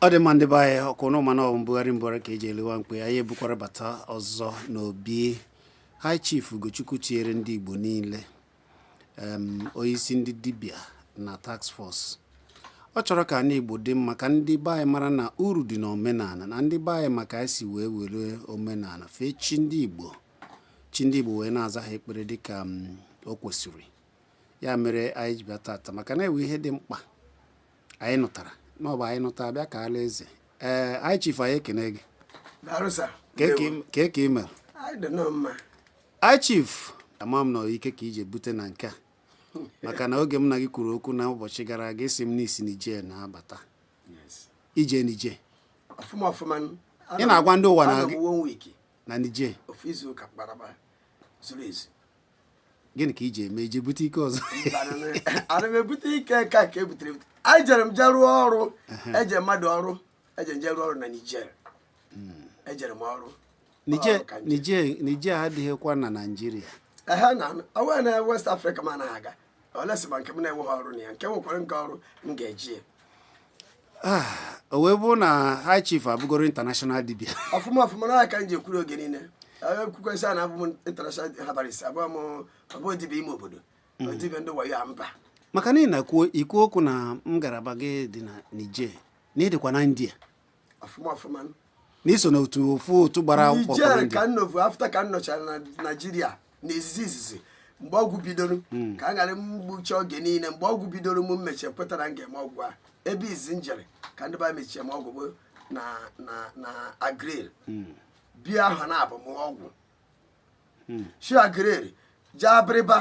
ọ dị mma ndị be anyị ọkwa unu ma na ọ wụ mbugharị mbugharị ka eji ele nwa mkpi anyị ebukwara bata ọzọ n'obi high chief ugochukwu tinyere ndị igbo niile em, onyeisi ndị dibịa na task force ọ chọrọ ka ndị igbo dị mma ka ndị be anyị mara na uru dị n'omenala na ndị be anyị ma ka esi wee were omenala fee chi ndị igbo chi ndị igbo wee na-aza ha ekpere dịka mm, o kwesịrị ya mere anyị ji bịa tata maka na enwe ihe dị mkpa anyị nụtara na ọ bụ anyị nụta abịa kaala eze ee high chief anyị ekene gị Daalụ sir. kee ka i m- kee ka i mere Anyị dịnụ mma. high chief ama m na ọ ike ka i je bute na nke a maka na oge m na gị kwuru okwu na ụbọchị gara aga ị sị m na i si niger na-abata i je niger Ọfụma ọfụma. nụ. Ị na-agwa ndị ụwa na Anọ m gị- one week, na niger ofu izu ụka kparaba zuru ezu. gịnị ka i je eme i je bute ike ọzọ ana m ebute ike nke a ka ebutere ebute ejere m jee rụọ ọrụ eje mmadụ ọrụ eje nje rụọ ọrụ na niger hmm. ejere m ọrụ niger adịghịkwa na naijiria ehe na onweghị na west afrịka m anaghị aga unless ma nke m na-enweghị ọrụ na ya nke nwekwara nke ọrụ m ga-eje Ah, o wee bụrụ na high chief abụgoro international dibia ọfụma ọfụma na aka m ji ekwuru oge niile ekwukwesị a na abụ m international herbalist abụrọ m ọbụ dibia ime obodo Mm. dibia ndị wayo a mba maka na ị na-ekwu i kwu okwu na ngalaba gị dị na Niger na ị dịkwa na India ọfụma ọfụma na i so na otu ofu otu gbara akwụkwọ Niger pụrụ ka njem. nnovu afta ka m nọchara na naijiria na izizi izizi mgbe ọgwụ bidoro ka a ghara mgbuchi oge niile mgbe ọgwụ bidoro m mmechi ekweta na m ga-eme ọgwụ a ebe izizi m jere ka ndị be anyị mechie m ọgwụ bụ na na na aguleri bie ahọ naabọ mụọ ọgwụ shi aguleri jee abịrịba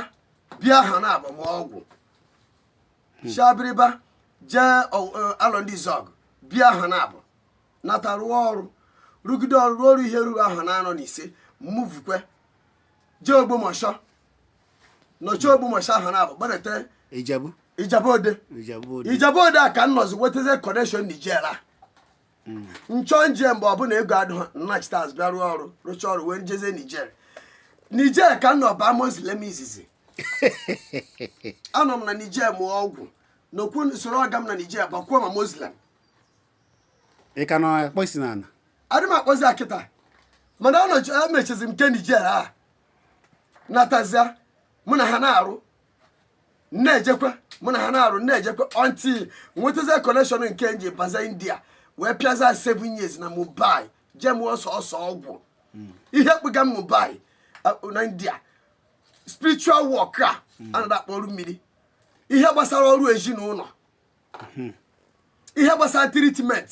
bie ahọ naabọ mụọ ọgwụ shi abịrịba jee ọ- ọ- arondizuogu bie ahọ naabọ nata rụọ ọrụ rụgide ọrụ rụọ ọrụ ihe ruru ahọ naanọ na ise movukwa jee ogbomọshọ nọchie ogbomọshọ ahọ naabọ gbadata Ijebu. ijebu ode Ijebu ode. ijebu ode a ka m nọzi wetazie connection niger a m chọ m je mgbe ọbụla ego adịghị m nachite azụ bịa rụọ ọrụ rụchaa ọrụ wee jezie niger niger ka m nọ baa muslim izizi anọ m na niger mụọ ọgwụ nọkwuo soro ọga m na niger bakwuo ma muslim ị ka na-akpọ isi n'ala adị m akpọzi kịta mana emechizi m nke niger a natazia mụ na ha na-arụ na-ejekwa mụ na ha na-arụ na-ejekwa until m nwetazie connection nke m ji baza india wee pịaza 7 years na mumbai je mụọ sọsọ ọgwụ ihe kpụga m mumbai na india spiritual work a a na-akpọ ọrụ mmiri ihe gbasara ọrụ ezinụlọ hmm. ihe gbasara treatment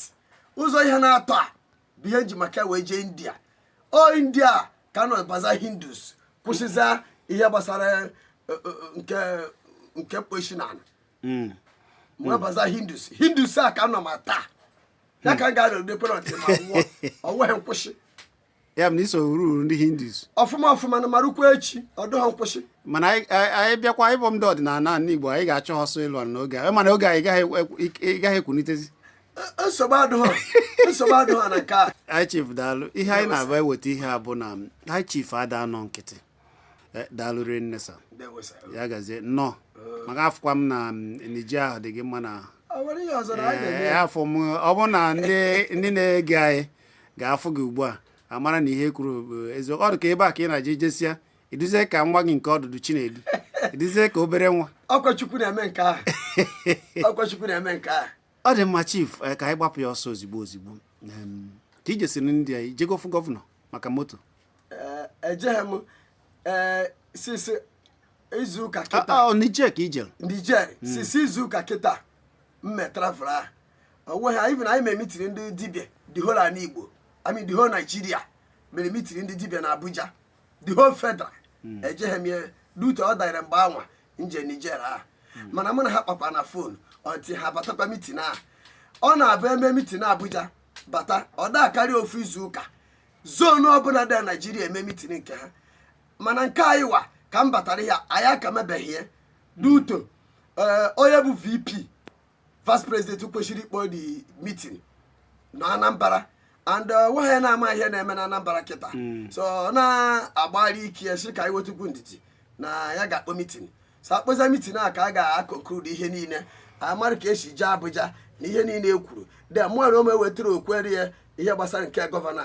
ụzọ ihe naatọ a bụ ihe nji maka wee jee india o india ka m nọ baza hindus kwụsịza ihe gbasara eh, eh, eh, nke nke ịkpọ ishi na ala hmm. wee baza hindus hindus a ka m nọ ma taa ya ka m ga-anọ n'ekpere until m anwụọ ọ nweghị nkwụsị ya bụ na iso ruru ndị hindus ọfụma ọfụma na ma rukwa echi ọdụghọ nkwụsị mana anyị bịakwa ebe ndị ọdịnala ndị igbo anyị ga-achọ ha ọsọ ịlụ n'oge a mana oge anyị gaghị ekwunitezi e, e, nsogbu adụghọ nsogbu adụghọ na nke a high chief daalụ ihe anyị na-abụ eweta ihe a bụ na high chief ada anọ nkịtị Eh, daalụ rinne sir ndewo sir. ya gazie nnọọ maka afụkwa m na mm, Niger ahụ dị gị mma na ahụ mm ọ bụrụ na ndị ndị na-ege anyị ga-afụ gị ugbu a amara na ihe m kwuru bụ eziokwu ọ dị ka ebe a ka ị na-aje i jesia ị dịzie ka nwa gị nke ọdụdụ chinedu ị dịzie ka obere nwa ọkwa chukwu na-eme nke ahụ ọkwa chukwu na-eme nke ahụ ọ dị mma chief eh, ka anyị gbapụ ya ọsọ ozigbo ozigbo ka i jesiri ndị a i jego fụ gọvanọ maka moto eh, ejeghị m eh, since izu ụka kịta ah, ah, Niger ka i jere Niger hmm. since izu ụka kịta m mee travel ahụ onweghị even anyị mere mitin ndị dibịa the whole ala igbo I mean the whole Nigeria mere mitin ndị dibịa na Abuja the whole federal hmm. ejeghị m ya due to ọ danyere mgbe anwa m je Niger ahụ hmm. mana mụ na ha kpakwa na fon until ha batakwa mitin ahụ ọ na-abụ eme mitin Abuja bata ọ da akarị ofu izu ụka zonu ọbụla dị na Naijiria eme mitin nke ha mana nke anyị wa ka m batara ya anyị aka emebeghị ya due to eh, onye bụ VP vice president kwesịrị ịkpọ the meeting na anambra and uh, nwa ya na-ama ihe na-eme na anambra kịta hmm. so ọ na-agbalị ike ya sị ka anyị nwetukwu ndidi na ya ga-akpọ mitin so akpọza mitin a ka a ga-aconclude ihe niile amara ka esi jee abuja na ihe niile e kwuru then mụara ome wetara okwere ya ihe gbasara nke gọvanọ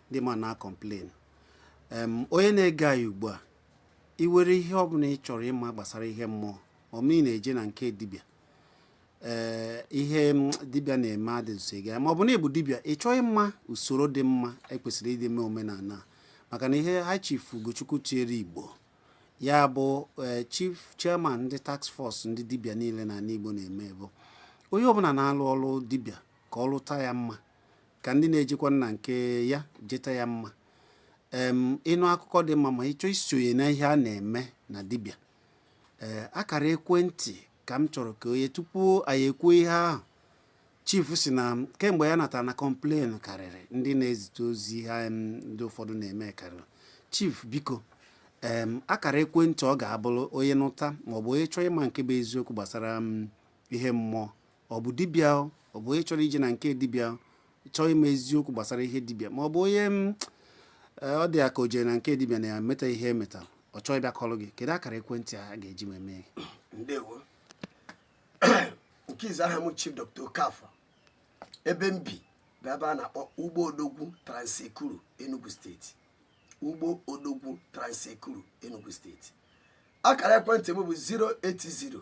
ndị ma na complain em onye na-ege anyị ugbu a ị nwere ihe ọ bụla ị chọrọ ịma gbasara ihe mmụọ ma ọ bụ ị na-eje na nke dibịa ee ihe dibịa na-eme adịzụsị gị ma ọ bụ na ịbụ dibịa ị chọọ ịma usoro dị mma ekwesịrị iji mee omenala a. maka na ihe high chief ugochukwu tinyere igbo ya bụ ee, chief chairman ndị task force ndị dibịa niile na ala igbo na-eme bụ onye ọbụla na-alụ ọrụ dibịa ka ọ lụta ya mma ka ndị na-ejekwa na nke ya jeta ya mma em ịnụ akụkọ dị mma ma ị chọọ isonye na ihe a na-eme na dibịa ee akara ekwentị ka m chọrọ ka onye tupu anyị ekwuo ihe ahụ chief si na kemgbe ya natara na complain karịrị ndị na-ezite ozi ihe em ndị ụfọdụ na-eme karịrị chief biko em akara ekwentị ọ ga-abụrụ onye nụta maọbụ onye chọọ ịma nke bụ eziokwu gbasara ihe mmụọ ọ bụ dibịa ọ bụ onye chọrọ ije na nke dibịa chọọ ịma eziokwu gbasara ihe dibịa ma ọ bụ onye mm, eh, ọ dị ya ka o jere na nke dibịa na-emeta ihe emeta ọ chọọ ịbịa kọrọ gị kedu akara ekwentị a ga-eji wee mee ndewo nke izu aha m chief dr okafọ ebe m bi bụ ebe a na-akpọ ugbo odogwu trans-ekulu enugu steeti ugbo odogwu trans-ekulu enugu steeti akara ekwentị m bụ 080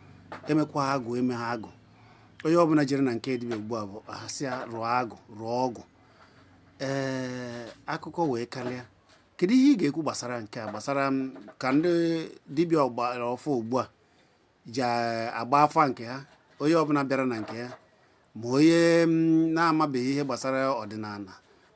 emekwa ha agwụ eme ha agwụ onye ọbụla jere na nke dibịa ugbu a bụ a sị ya rụọ agwụ rụọ ọgwụ ee akụkọ wee karịa kedu ihe ị ga-ekwu gbasara nke a gbasara ka ndị dibịa ọgbara ọfụụ ugbu a ji agba afa nke ha onye ọbụla bịara na nke ya ma onye mm, na-amabeghị ihe gbasara ọdịnala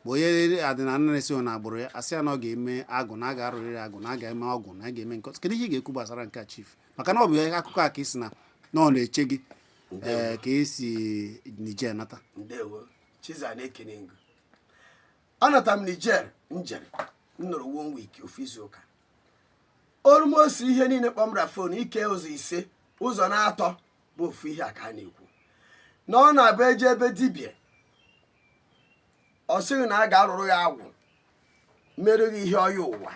ma onye ọdịnala na-esighị na agbụrụ ya a sị ya na ọ ga-eme agwụ na a ga-arụrịrị agwụ na a ga-eme ọgwụ na a ga-eme nke kedu ihe ị ga-ekwu gbasara nke a chief maka na ọ bụ akụkọ a ka ị sị na na ọ na-eche gị eh, ka i si Niger nata ndewo chiza na-ekene ngụ anata m Niger njere m nọrọ one week ofu izu ụka almost ihe niile kpọ m na fon i kee ụzọ ise ụzọ na-atọ bụ ofu ihe a ka a na-ekwu na ọ na-abụ e jee be dibịa ọ sị gị na a ga-arụrụ ya agwụ mere gị ihe onye ụwa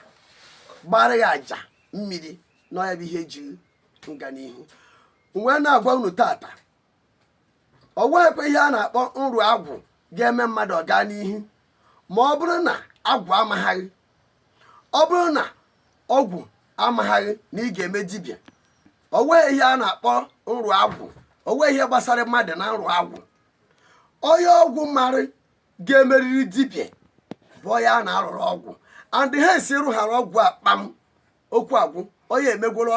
gbara ya aja mmiri na ọ ya bụ ihe ji nga n'ihu m wee na-agwa unu tata ọ nweghịkwa ihe a na-akpọ nrụ agwụ ga-eme mmadụ ọ gaa n'ihu ma ọ bụrụ na agwụ amaghị gị ọ bụrụ na agwụ amaghị gị na ị ga-eme dibịa o nweghị ihe a na-akpọ nrụ agwụ o nweghị ihe gbasara mmadụ na nrụ agwụ onye agwụ mara ga-emeriri dibịa bụ onye a na-arụrụ agwụ and ha esi rụghara ọgwụ a kpam okwu agwụ onye emegworo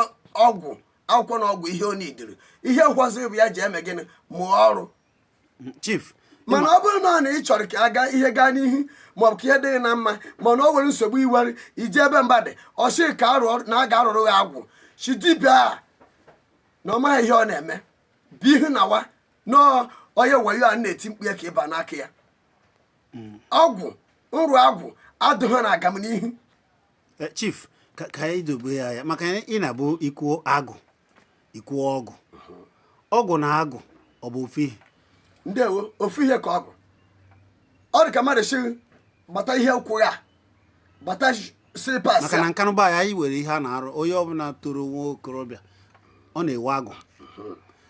ọgwụ akwụkwọ na ọgwụ ihe o nidiri ihe nkwaziri bụ ya ji eme gịnị mụọ ọrụ chief mana ọ bụrụ na ọ na ị chọrọ ka aga ihe gaa n'ihu maọbụ ka ihe dị gị na mma mana o nwere nsogbu i nwere i jee be mmadụ ọ sị ka a rụ na a ga-arụrụ gị agwụ sị dibịa a na ọ maghị ihe ọ na-eme bụ ihu na wa na onye wayo a na-eti mkpu ya ka ị ba n'aka ya ọgwụ nrụ agwụ adụghị na agamnihu Eh, chief ka ka anyị dobe ya ya maka na ị na-abụ i kwuo agwụ ikwu ọgwụ ọgwụ na agwụ ọ bụ ofu ihe ndewo ofu ihe ka ọ bụ ọ dị ka mmadụ sị gbata ihe ụkwụ ya gbata slippers maka na Nkanu be anyị nwere ihe a na-arụ onye ọbụla toro nwa okorobịa ọ na-ewe agwụ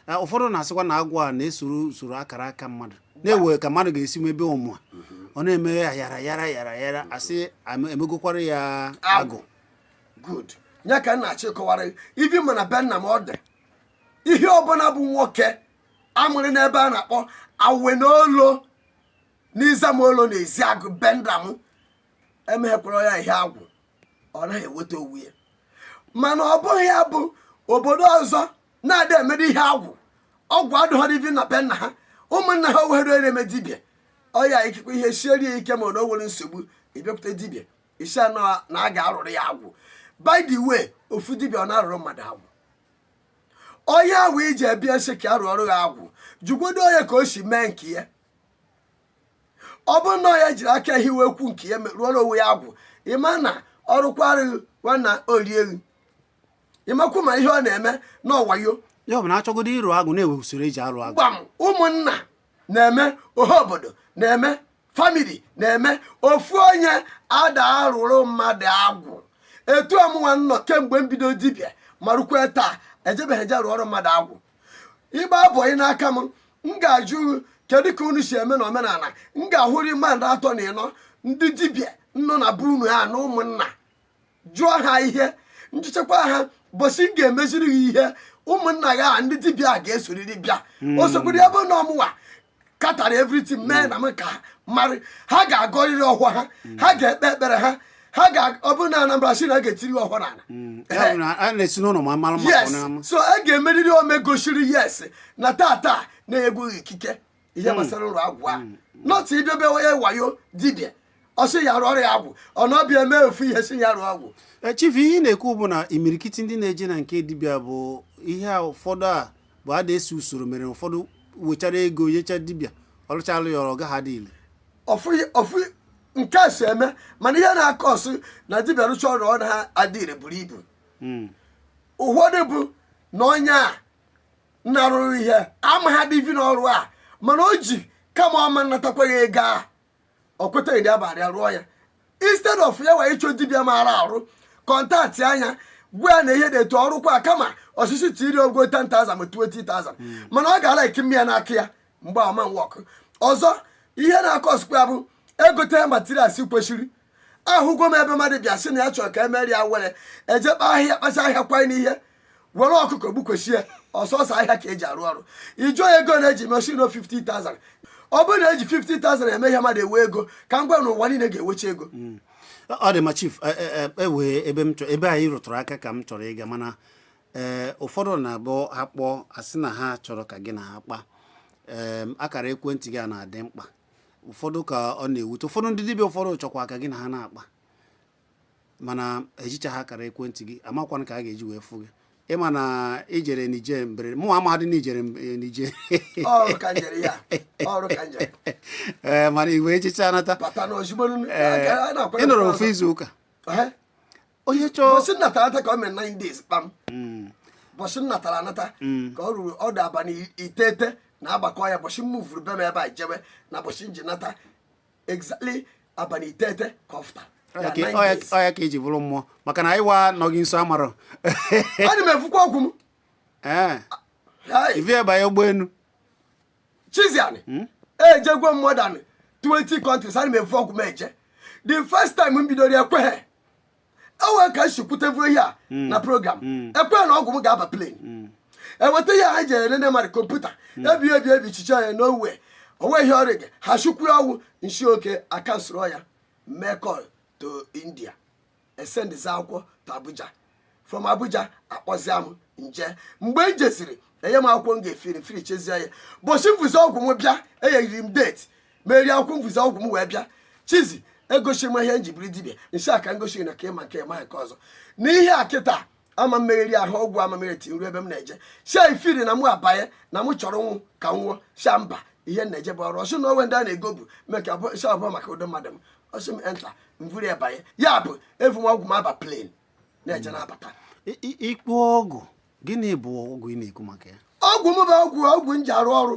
Eh, ụfọdụ na-asịkwa na agwụ a na-esoro usoro akara aka mmadụ na-ewe ka mmadụ ga-esi mebe omume ọ na-eme ya yara yara yara yara a sị am- emegokwara ya agwụ good ya ka m na-achọ ịkọwara ibi mana be nna m ọ dị ihe ọbụla bụ nwoke a mụrụ n'ebe a na-akpọ Awene Olo n'Ezema Olo na Ezeagu be nna m emeghekwara ya ihe agwụ ọ naghị eweta onwe ya mana ọ bụghị ya bụ obodo ọzọ na ada emere ihe agwụ ọgwụ adụghọrọ ibi na be nna ha ụmụnna ha o wehere na-eme dibịa ọya ikikwa ihe sieri ya ike ma na o nwere nsogbu ị bịakwute dibịa ị sị na a ga-arụrụ ya agwụ by the way ofu dibịa ọ na-arụrụ mmadụ agwụ onye ahụ ị ji abịa sị ka a rụọrụ ya agwụ jụgodo onye ka o si mee nke ya ọ bụrụ na ya jiri aka hiwe ekwu nke ya rụọrọ onwe ya agwụ ị ma na ọrụkwarụ nwanna olielu ịmakwu ma ihe ọ na-eme na ọ wayo ya ọ bụ na a chọgodo ịrụ agwụ na-ewe usoro e ji arụ agwụ gbam ụmụnna na-eme ọha obodo na-eme family na-eme ofu onye ada arụrụ mmadụ agwụ etu a mụnwa nọ kemgbe m bido dibịa ma rukwe taa ejebeghị eje rụọrọ mmadụ agwụ ịgba abụghị n'aka m m ga-ajụ kedu ka unu si eme na omenala m ga-ahụrị mmadụ atọ na ịnọ ndị dibịa nọ na be unu a na ụmụnna jụọ ha ihe m jụchakwa ha bọsị m ga-emeziri gị ihe ụmụnna gị a ndị dibịa ga-esoriri bịa hmm. o sokwuru ebe na ọ mụwa katara everything hmm. mee na m ka marị ha ga-agọrịrị ọhọ ha hmm. ha ga-ekpe ekpere ha ha ga ọ bụrụ na Anambra sị na a ga-etiri ọhọ n'ala yes so a ga-emeriri ome gosiri yes na tata na e nyego gị ikike ihe hmm. gbasara ọrụ agwụ a hmm. not ije be onye wayo dibịa ọ sị ya rụọ ya agwụ ọ nọbịa eme ofu ihe sị ya rụọ agwụ eh, chief ihe ị na-ekwu bụ na imirikiti ndị na-eje na nke dibịa bụ ihe ụfọdụ a bụ ada esi usoro mere ụfọdụ wechara ego nyecha dibịa ọ lụchalụ ya ọrụ ọ gaghị adị ile ọfụ nke a si eme mana ihe na-akọsụ na dibịa rụcha ọrụ ọ na-adị ire buru ibu hmm. ụfọdụ bụ na onye a na-arụrụ ihe amaha dị ivi n'ọrụ a mana o ji kama ọ ma-anatakwa gị ego a ọ kwetaghị dị abalị ya rụọ ya instead of ya wee ịchọ dibịa maara arụ contact ya gwa ya na ihe dị etu ọrụkwa kama ọchịchị tiri ogo 10,000 ma 20,000 mana ọ ga-ala ike mmịa n'aka ya mgbaama work ọzọ ihe na-akọsikwa ya bụ egote materials kwesịrị ahụgo m ebe mmadụ bịa sị na ya chọrọ ka emere ya were eje kpa ahịhịa kpacha ahịhịa kwanye n'ihe were ọkụkọ gbukwesị ya ọ sọsọ ahịhịa ka eji arụ ọrụ ị jụọ ya ego na-eji me sị na ọ 50,000 ọ bụrụ na eji 50,000 eme ihe mmadụ ewe ego ka m gwa na ụwa niile ga-ewecha ego ọ dị ma chief e- e- e- ewee ebe m chọ- ebe anyị rụtụrụ aka ka m chọrọ ịga mana ee ụfọdụ na-abụ akpọ asị na ha chọrọ ka gị na ha kpa ee akara ekwentị gị a na-adị mkpa ụfọdụ ka ọ na-ewute ụfọdụ ndị dibịa ụfọdụ chọkwa ka gị na ha na-akpa mana ejicha ha akara ekwentị gị amakwana ka a ga-eji wee fụ gị ị ma na i jere nije mbere mụ amaghadị na i jere eh, nije ee mana i wee jecha nata ị nọrọ ofu izu ụka onye chọọ bọsị m natara anata ka o mere 9 days kpam bọsị m natara anata ka o ruru ọ dụ abalị iteghete na agbakọ ya bọsị m vuru be m ebe a jebe na bọsị m ji nata exactly abalị iteghete ka ọ fụtara Ya ka- ọ ya- ọ ya ka eji bụrụ mmụọ maka na anyị wa nọghị nso amarọ ana m evukwa ọgwụ m ee Hai. i vu ya banye ụgbọelu Chiziani hmm? ejegwo m more than 20 countries ana m evu ọgwụ m eje the first time m bidoro ekweghị enwere ka m si kwutevuru ihe a hmm. na program hmm. ekweghị na ọgwụ m ga-aba plane eweta ihe ha ji enene mmadụ computer ebi ebi ebi chiche ya n'owe onwe ihe ọrịa gị ha chukwu ọnwụ m sị okay ka m soro ya mee call to India esendịzi akwụkwọ to Abuja from Abuja akpọzia m m je mgbe m jeziri enye m akwụkwọ m ga-efiri firichezie ya bọchị m vuzi ọgwụ m bịa enyeriri m date m were akwụkwọ m vuzi ọgwụ m wee bịachizi egosi m ihe m ji bụrụ dibịa m sị ha ka m gosi na ka ị ma nke ma nke ọzọ n'ihe a kịta ama m emegheri ha ọgwụ amamere till m ru ebe m na-eje sị ha ifiri na mụ abanye na mụ chọrọ nwụ ka m nwụọ sị ha mba ihe na-eje bụ ọrụ ọ sị na o nwe ndị a na-ego bụ mee ka si ọ bụ maka ụdị mmadụ m ọ sị m enter m vuri ya banye ya bụ evu m ọgwụ m aba plane na-eje na-abata ị kpọ ọgwụ gịnị bụ ọgwụ ị na-ekwu maka ya ọgwụ m bụ ọgwụ ọgwụ m ji arụ ọrụ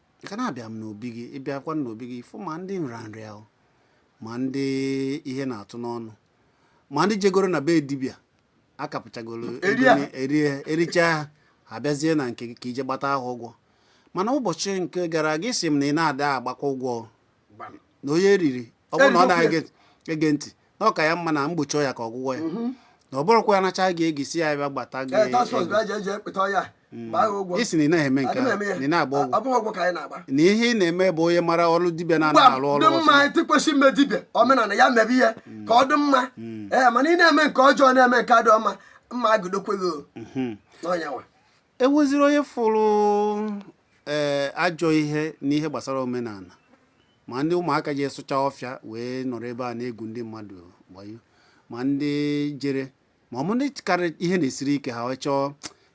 ka na-abịa m n'obi gị ị bịakwa n'obi gị fụ ma ndị nrịanrịa ma ndị ihe na-atụ n'ọnụ ma ndị jegoro na be dibịa akapụchagoro ericha ha bịazie na nke gị ka i je gbata ahụ ụgwọ mana ụbọchị nke gara aga ị sị m na ị na-ada agbakwa ụgwọ na onye eriri ọ bụrụ na ọ na-ege ntị na ọ ka ya mma na mgbochi ọya ka ọgwụgwọ ya mhm. na ọ bụrụkwa ya nacha gị ego sị ya bịa gbata gị eh, mm. ị sị na ị naghị eme nke na ị na-agba ọgwụ na ihe ị na-eme bụ onye mara ọrụ dibịa na-arụ ọrụ mma tịkwesị ime dibịa omenala ya mebe ihe mm. ka ọ dị mma mm. ee eh, mana ị na-eme nke ọjọọ na-eme nke dị ọma mma agụdokweghị mhm. n'ọnyanwa e nweziri onye fụrụ ee eh, ajọ ihe n'ihe gbasara omenala ma ndị ụmụaka jee sụcha ọfịa wee nọrọ ebe a na-egwu ndị mmadụ wayo ma ndị jere ma ọ bụ ndị karị ihe na-esiri ike ha chọọ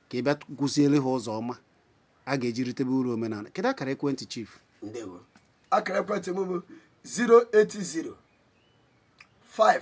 ka ị bịa kuziere ha ụzọ ọma a ga-eji ritebe uru omenala kedu akara ekwentị chief ndewo akara ekwentị m bụ 080 5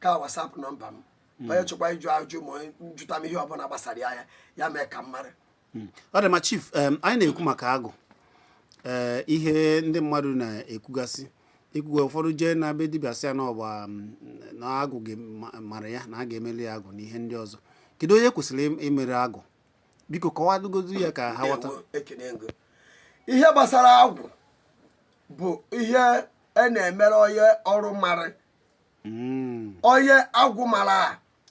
ka WhatsApp nọmba m onye chọkwa ịjụ ajụ ma onye ịjụta m ihe ọbụla gbasara ya ya ya mee ka m mara ọ dị mma chief em, anyị na-ekwu maka agwụ ee ihe ndị mmadụ na-ekwugasị ekwugo ụfọdụ jee na be dibịa sị ya na ọgba na agwụ ga- ma- mara ya na a ga-emeli ya agwụ na ihe ndị ọzọ kedu onye kwesịrị im- imere agwụ biko kọwagodu ya ka ha ghọta Ndewo, ekene m gị. ihe gbasara agwụ bụ ihe a na-emere onye ọrụ mara hmm. onye agwụ mara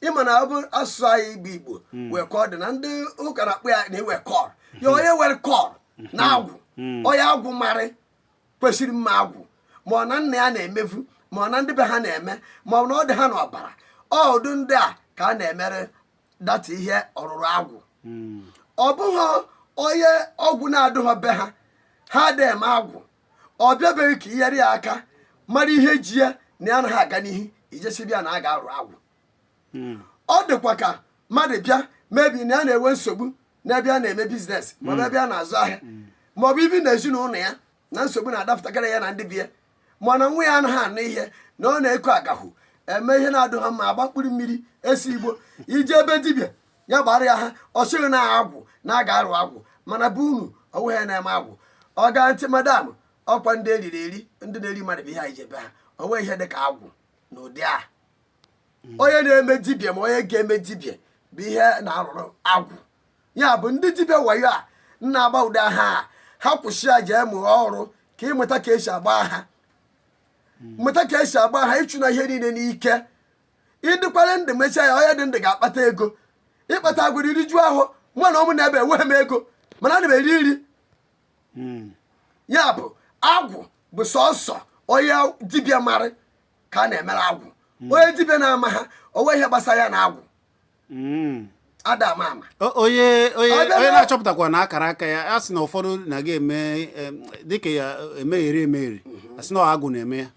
ị ma na ọ bụ asụsụ anyị Igbo Igbo hmm. nwe ka ọ dị na ndị ụka na-akpọ ya inwe call ya hmm. onye nwere call na agwụ onye agwụ marị kwesịrị ime agwụ ma ọ na nna ya na-emebu ma ọ na ndị be ha na-eme ma ọ na ọ dị ha n'ọbara ụdị ndị a ka a na-emere that ihe ọrụrụ agwụ ọ bụghị onye ọgwụ na-adụghọ be ha ha adị eme agwụ ọ bịa be gị ka i nyere ya aka mara ihe ji ya na ya anaghị aga n'ihu i jee sịbe ya na a ga-arụ agwụ hmm. ọ dịkwa ka mmadụ bịa mebi na ya na-enwe nsogbu n'ebe ya na-eme business maọbụ hmm. ebe ya na-azụ ahịa hmm. maọbụ ibi na ezinụlọ ya na nsogbu na-adapụtagara ya na ndị be ya ma ọ na nwa ya anaghị anụ ihe na ọ na-eko agahụ eme ihe na-adụghọ mma agba mkpụrụ mmiri ese igbo i jee be dibịa ya gbara ya aha ọ sị gị na agwụ na a ga-arụ agwụ mana be unu o nweghị onye na-eme agwụ oga aunty madam ọkwa ndị eriri eri ndị na-eri mmadụ bụ ihe anyị je be ha o nweghị ihe dị ka agwụ na ụdị a onye na-eme dibịa ma onye ga-eme dibịa bụ ihe a na-arụrụ agwụ ya bụ ndị dibịa wayo a na-agba ụdị aha a ha kwụsị ya jee mụọ ọrụ ka ị mụta ka e si agba aha mụta ka e si agba aha ị chụna ihe niile n'ike ị dịkwara ndụ mechaa ya onye dị ndụ ga-akpata ego ị kpata agwara i riju ahọ mụ na ụmụ nọ ebe enweghị m ego mana ana m eri nri ya bụ agwụ bụ sọsọ onye dibịa mara ka a na-emere agwụ onye dibịa na-amaghị o nweghị ihe gbasara ya na agwụ Mm. ada ama ama O- onye onye Ọ bịara- onye na-achọpụtakwa na akara aka ya a sị na ụfọdụ na-aga eme em, dịka ya emegheri emegheri a sị na ọ agwụ na-eme ya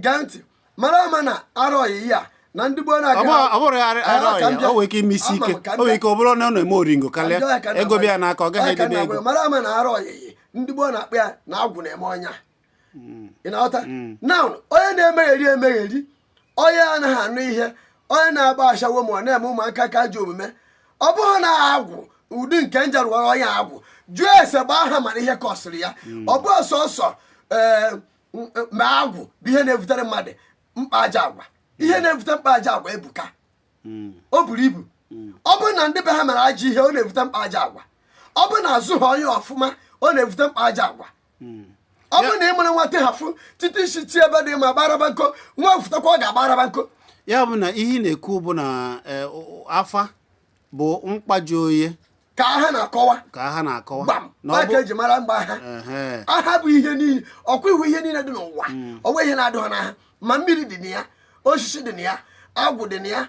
gee ntị mara ama na arọ ọyịyị a na ndị gboo na-aga ọ bụrụ ya ara ọya o nwere ike ime isi ike o nwere ike ọ bụrụ na ọ na-eme oringo karịa ego bịa n'aka ọ gaghị edebe ego mara ama na arọ ọyịyị ndị gboo na-akpọ ya na agwụ na-eme onye a hmm. ị na-aghọta hmm. na onye na-emegheri emegheri onye anaghị anụ ihe onye na-agba ashawo ma ọ na-eme ụmụaka ka ajọ omume ọ bụghị na agwụ ụdị nke n ja-arụwara onye agwụ jụọ ese gbaa aha mara ihe kọsịrị ya hmm. ọ bụ sọsọ ee eh, ma agwụ bụ ihe na-ebutere mmadụ mkpa ajọ agwa ihe na-ebute mkpa ajọ agwa ebuka hmm. o buru ibu hmm. ọ bụrụ na ndị be ha mere ajọ ihe ọ na-ebute mkpa ajọ agwa ọ bụrụ na azụha onye ọfụma ọ na-ebute mkpa ajọ agwa hmm. ọ bụrụ na ị mụrụ nwata hafụ tite isi tie ebe dị ma gbaraba nko nwa fụtakwa ọ ga-agbaraba nko ya bụ na ihe ị na-ekwu bụ na eh, afa bụ mkpaji oye ka ha na-akọwa ka ha na-akọwa gbam na ọ maka bụ eji mara mgba aha Ehe. aha bụ ihe niile ọkwa ị hụ ihe niile dị n'ụwa o nweghị ihe na-adụha n'aha ma mmiri dị na ya osisi dị na ya agwụ dị na ya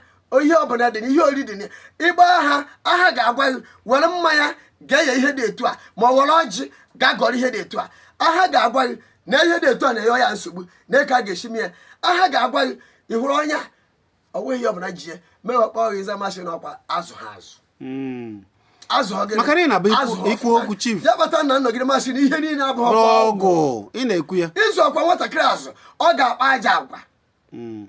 ihe ọbụla dị na ihe ori dị na ya ị gbaa aha aha ga-agwa gị were mmanya gaa nye ihe dị etu a ma ọ were ọjị gaa gọọrọ ihe dị etu a aha ga-agwa gị na ihe dị etu a na-enye ya nsogbu na ka a ga-esi mee ya aha ga-agwa gị ị hụrụ onye ọ nweghị ihe ọbụla ji ya mewe kpọọ gị ịza masị na ọkwa azụha azụ hmm. azụ ọ gịnị maka na ị na-abụ ikwu okwu chief ya kpata na nnọgide masị na ihe niile abụghị ọgwụ ị na-ekwu ya ịzụ ọkwa nwatakịrị azụ ọ ga-akpa ajọ agwa hmm.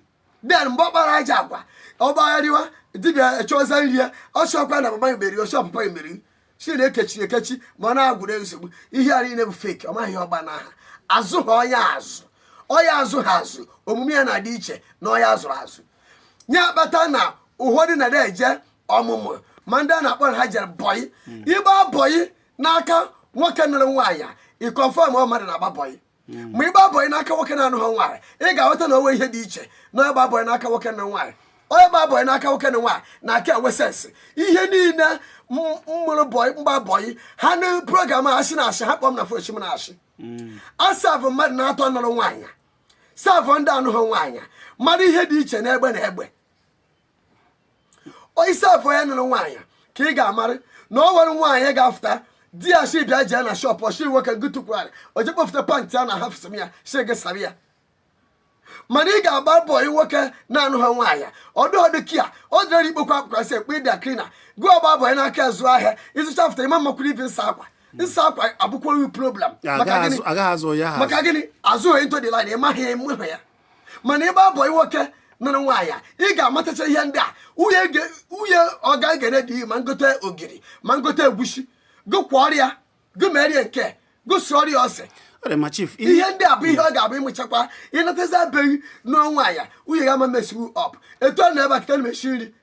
then mgbe ọ kpara ajọ agwa ọ gbagharịwa dibịa chọọza nri ya ọ sịkwa na mama ya meri ọ sị ọ papa ya meri sị na ekechiri ekechi ma ọ na-agwụrụ nsogbu ihe a niile bụ fake ọ maghị ọgba na aha azụha onye a azụ onye azụha azụ omume ya na-adị iche na onye azụrụ azụ ya kpata na ụfọdụ na-eje ọmụmụ ma ndị a na-akpọ na ha jere bọyị ịgba bọyị n'aka nwoke nụrụ nwaanyị ị confirm ọ mmadụ na-agba bọyị hmm. ma ịgba bọị n'aka nwoke na-anụha nwaanyị ị ga-aghọta na o nwere ihe dị iche na ịgba bọị n'aka nwoke nụrụ nwaanyị onye gba bọị n'aka nwoke nụrụ nwaanyị na-aka enwe sensị ihe niile m mụrụ bọị m gba bọị ha na program a asị na asị ha kpọm na fochi m na asị hmm. asavụ mmadụ na-atọ nụrụ nwaanyị savụ ndị anụghị nwaanyị mara ihe dị iche n'egbe na egbe ọ ị savụ onye nụrụ nwaanyị ka ị ga-amarị na o nwere nwaanyị ga-afụta di ya shi bịa jee na shọpụ ọ shi nwoke gị tukwugharị o je kpọfụta pantị a na half slip ya shi gị sara ya mana ị ga-agba bọị nwoke na-anụha nwaanyị ọdụ ọdụ kia ọ dịrị ị kpokọọ akwa sị ekpe dry cleaner gụọ ọ gba bọị n'aka azụ ahịa ịzụcha fụta ịma mmakwuru ibe nsa akwa nsa akwa abụkwa oyi problem maka gịnị maka gịnị azụghị ntụ dị line ịmaghị ya ịmụghị ya mana ịgba bọyị nwoke nụrụ nwaanyị ị ga-amatacha ihe ndị a nwunye ọga egere dị ma ngote ogiri ma ngote egwusi gụkwa ọrịa gụmerie nke gụsụ ọrịa ose ihe ndị a bụ ihe ọ ga-abụ ị mụchakwa ị natazie be gị nụọ nwaanyị nwunye gị ama mess you up etu a na-ebe akịta na-esi nri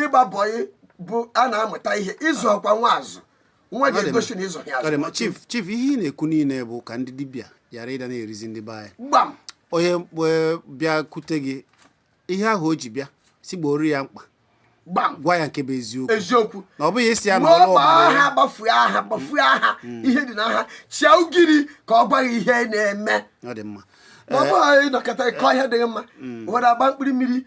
ịgba bọyị bụ a na-amụta ihe ị zụọkwa nwa azụ nwa ga-egosi na ị zụ ya azụ chief chief ihe ị na-ekwu niile bụ ka ndị dibịa ghara ịda na-erizi ndị be anyị gbam onye e, bịakute gị ihe ahụ o ji bịa sị gboro ya mkpa gbam gwa ya nke bụ eziokwu eziokwu na ọ bụghị ị sị ya na ọrụ aha gbafue aha gbafue aha mm. ihe dị n'aha chia ugiri ka ọ gwa gị ihe na-eme ọ dị mma ma ọ bụghị ịnọkọta ịkọ ihe dịghị mma were agba mkpụrụ mmiri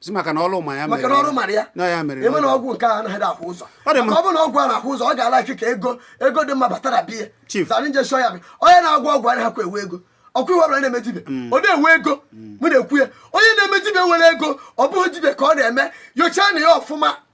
si maka na ọrụ ma ya maka na ọrụ mara ya na ya mere eme na ọgwụ nke a anaghị ahụ ụzọ ọ dị mma ọ bụrụ na ọgwụ a na-ahụ ụzọ ọ ga-alike ego ego dị mma batara bịa chief zara nje shọ ya bụ onye na-agwọ ọgwụ anaghịkwa enwe ego okay onye ọbụla na-eme dibịa mm. ọ na-enwe ego mm. mụ na-ekwu ya onye na-eme dibịa nwere ego ọ bụghị dibịa ka ọ na-eme nyochaanụ ya ọfụma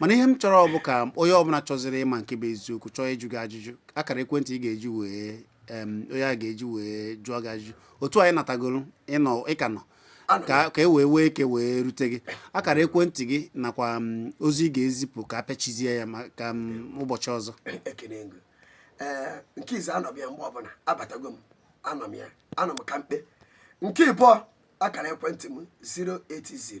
mana ihe m chọrọ ọ bụ ka onye ọbụla chọzịrị ịma nke bụ eziokwu chọọ ịjụ gị ajụjụ akara ekwentị ị ga-eji wee em, onye a ga-eji wee jụọ gị ajụjụ otu anyị natagoro ịnọ ị ka nọ ka ka e wee nwee ike wee rute gị akara ekwentị gị nakwa m, ozi ị ga-ezipụ ka a pịachizie ya maka m, ụbọchị ọzọ ekene ego ee nke izizi anọ m ya mgbe ọbụla abatago m anọ m ya anọ m kampe nke ịbụọ akara ekwentị m 080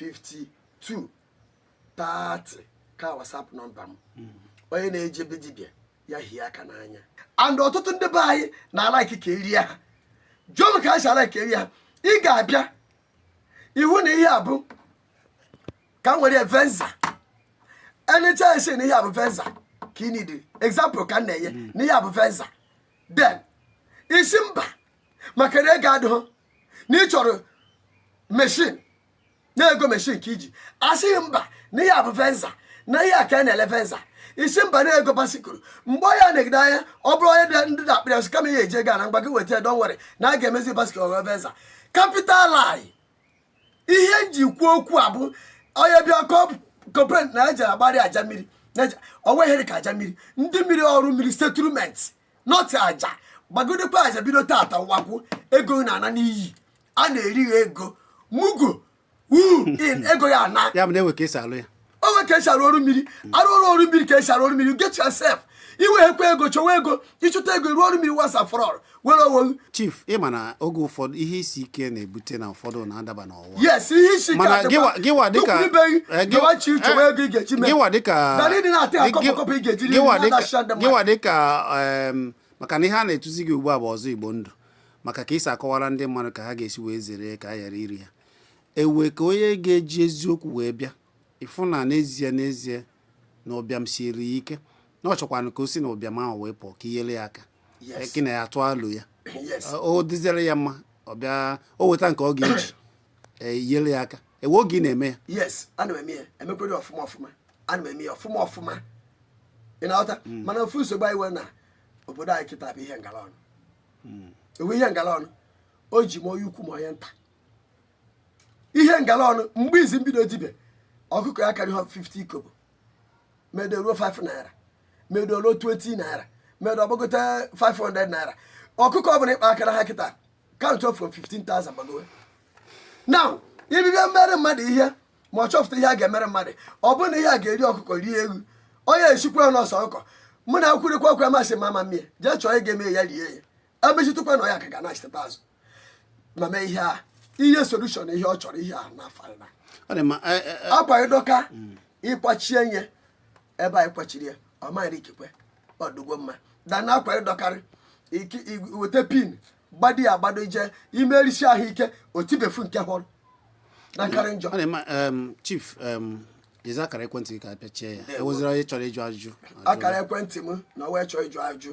52 30 ka WhatsApp nọmba m onye na-eje be dibịa ya hie aka n'anya and ọtụtụ ndị be anyị na-alike ka e rie ha jụọ m ka ha si alike ka e rie ha ị ga-abịa ị hụ na ihe a bụ ka m were venza e nechaa a sị na ihe a bụ venza ka ị need example ka m na-enye na ihe a bụ venza then ị sị mba maka na ego adịghị na ị chọrọ machine na ego machine ka i ji a sị gị mba na ihe a bụ venza na ihe a ka a na-ele venza ị sị mba na ego bicycle mgbe onye a negide anya ọ bụrụ onye dị ndị na-akpịrị asụ kama ihe eji ego a na mgba gị weta down were na a ga-emezi bicycle ọ ghọọ venza capital lie ihe m ji kwuo okwu a bụ onye bịa complain a na-eji agbari aja mmiri na-eji- ọ nweghị ihe dị ka aja mmiri ndị mmiri ọrụ mmiri settlement not aja gbagidekwa aja bido tata wakwu ego na-ana n'iyi a na-eri ya ego mugu wuu in ego ya ana ya bụ na e nwe ka e si alụ ya o nwe ka e si arụ ọrụ mmiri arụ ọrụ ọrụ mmiri ka e si arụ ọrụ mmiri you get yourself i nweghịkwa ego chọwa ego ị chọta ego rụọ ọrụ mmiri once and for all nwere onwe gị chief ị ma na oge ụfọdụ ihe isi ike na-ebute na ụfọdụ na-adaba n'ọgwụ yes ihe isi Mana ka gịwa- gịwa dịka- eh, gị- gịwachi chọwa eh, ego ị ga-eji mee gịwa dịka Dara ịdị na-ata ya gị- kọpọkọpọ ị ga-eji rie gịwa nri, dịka- na-adachi ndị mmadụ. gịwa dịka em, maka na ihe a na-etuzi gị ugbu a bụ ọzọ igbo ndụ maka ka i si akọwara ndị mmadụ ka ha ga-esi wee zere ka a ghara iri ha e nwee ka onye ga-eji eziokwu wee bịa ị fụ na n'ezie n'ezie na ụbịam siere ya ike na ọ chọkwanụ ka o si na ụbịam ahụ wee pụọ ka i nyere ya aka Yes. gị na ya tụọ alo ya Yes. o dịziere ya mma ọ bịa o weta nke ọ ga-eji ee, i nyere ya aka e nwee oge ị na-eme ya yes ana m eme ya emekwere ya ọfụma ọfụma ana m eme ya ọfụma ọfụma ị na-aghọta mana ofu nsogbu anyị nwere na obodo anyị kịta bụ ihe ngala ọnụ e nwee ihe ngala ọnụ o ji ma onye ukwu ma onye nta ihe ngala ọnụ mgbe izi m bido dibịa ọkụkọ ya karịa 50 kobo medo ruo 5 naira medo ruo 20 naira medo ọ gbagote 500 naira ọkụkọ ọbụla ị kpa akara ha kịta count from 15,000 gbagowe now dibịa mere mmadụ ihe ma ọ chọpụta ihe a ga-emere mmadụ ọ bụrụ na ihe a ga-eri ọkụkọ rie ewu onye asịkwa ya na ọ sọ ọkụkọ mụ na akwụrịkwa ọkụ amasị mama mie jee chọọ ị ga-eme ya rie ya emechitụkwa na ya ka ga na-achịtata azụ ma mee ihe a ihe solution ihe ọ chọrọ ihe a na final ọ dị mma e, e, e, akwa gị dọka ị kwachie ya ebe ị kwachiri ya ọ maghịrị ikekwe ọ dịgo mma mana akwa gị dọkarị iki- i- weta pin gbado ya agbado i je imerisi ahụ ike o tibefu nke ọhụrụ na-akarị njọ ọ dị mma em, chief em, nyezi akara ekwentị gị ka a pịachie ya e nwezie onye chọrọ ịjụ ajụjụ ajụọ ya. akara ekwentị m na onye chọọ ịjụ ajụ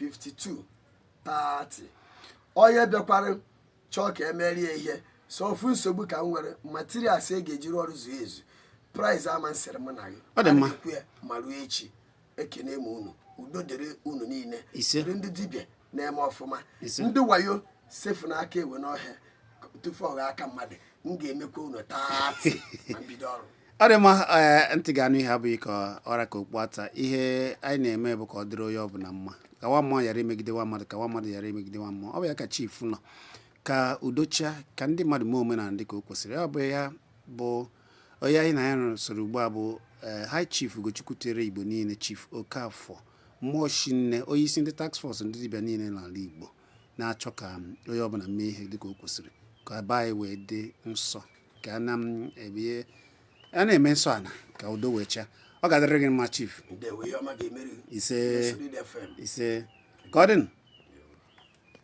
52 30 onye bịakwara chọọ ka e mere ya ihe so ofu nsogbu ka m nwere materials e ga-eji rụọ ọrụ zuo ezu price ama esere mụ na gị Ọ dị mma. okwu ya ma ruo echi ekene m unu udo dịrị unu niile Ise. dịrị ndị dibịa na-eme ọfụma Ise. ndị wayo sefụnụ aka enwe n'ohe tufu ọ ghọọ aka mmadụ m ga-emekwa unu taata ma m bido ọrụ ọ dị mma eh, ntị ga-anụ ihe abụghị ka ọ ra ka okpu ata ihe anyị na-eme bụ ka ọ dịrị onye ọbụla mma ka nwa mmụọ ghara imegide nwa mmadụ ka nwa mmadụ ghara imegide nwa mmụọ ọ bụ ya ka chief nọ ka udo chịa ka ndị mmadụ mee omenala dị ka o kwesịrị ọ bụ ya bụ onye anyị na ya soro ugbu a bụ eh, high chief ugochukwu tere igbo niile chief okafọ mmụọ shinne onye isi ndị task force ndị dibịa niile n'ala igbo na-achọ ka onye ọbụla mee ihe dị ka o kwesịrị ka be anyị wee dị nsọ ka a na-eme nsọ ana ka udo wee chịa ọ ga-adịrị gị mma chief ise ise ka ọ dịnụ